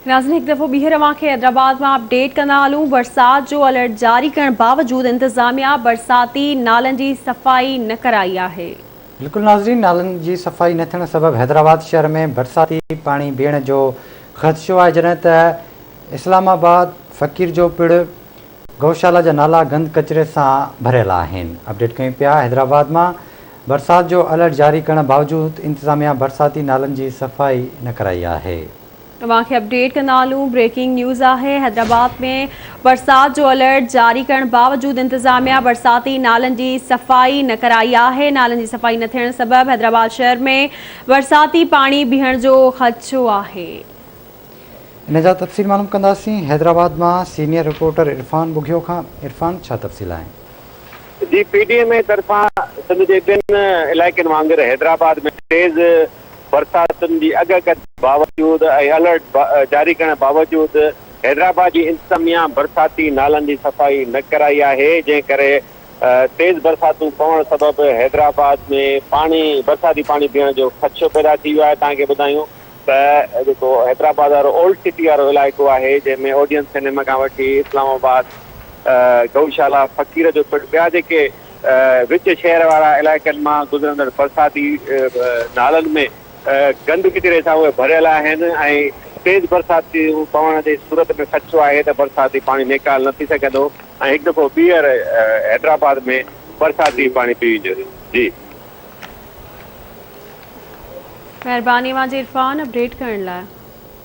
ناظرين هڪ دفعو ٻيهر اوهان کي حيدرآباد مان اپ ڊيٽ ڪندا هلون برسات جو الرٽ جاري ڪرڻ باوجود انتظاميا برساتي نالن جي صفائي نه ڪرائي آهي. بلڪل ناظرين نالن جي صفائي نه ٿيڻ سبب حيدرآباد شهر ۾ برساتي پاڻي بيهڻ جو خدشو آهي جڏهن ته اسلام آباد، فقير جو پڙ، گئوشالا جا نالا گند ڪچري سان ڀريل آهن اپڊيٽ ڪيون پيا حيدرآباد مان برسات جو الرٽ جاري ڪرڻ باوجود انتظاميا برساتي نالن جي صفائي نه ڪرائي آهي. اوهان کي اپڊيٽ ڪندا هلون بريڪنگ نيوز آهي حيدرآباد ۾ برسات جو الرٽ جاري ڪرڻ باوجود انتظاميا برساتي نالن جي صفائي نه ڪرائي آهي نالن جي صفائي نه ٿيڻ سبب حيدرآباد شهر ۾ برساتي پاڻي بيهڻ جو خدشو آهي. ان جا تفصيل معلوم ڪنداسين حيدرآباد مان سينيئر رپورٽر عرفان ٻگهيو کان عرفان ڇا تفصيل آهن. جي پي ڊي ايم اي طرفان سنڌ جي ٻين علائقن وانگر حيدرآباد ۾ تيز برساتن جي اڳڪٿ باوجود ۽ الرٽ جاري ڪرڻ باوجود حيدرآباد جي انتظاميا برساتي نالن جي صفائي نه ڪرائي آهي جنهن ڪري تيز برساتون پوڻ سبب حيدرآباد ۾ پاڻي برساتي پاڻي بيهڻ جو خدشو پيدا ٿي ويو آهي تهان کي ٻڌايون ته جيڪو حيدرآباد وارو اولڊ سٽي وارو علائقو آهي جنهن ۾ اوڊيئن سئنيما کان وٺي اسلام آباد گئوشالا فقير جو پڻ ٻيا جيڪي وچ شهر وارا علائقن مان گذرندڙ برساتي نالن ۾ گند ڪچري سان اهي ڀريل آهن ۽ تيز برساتيون پوڻ جي صورت ۾ خدشو آهي ته برساتي پاڻي نيڪال نه ٿي سگهندو ۽ هڪ دفعو ٻيهر حيدرآباد ۾ برساتي پاڻي پيو ويندو جي مھرباني اوھان جي عرفان اپڊيٽ ڪرڻ لاء.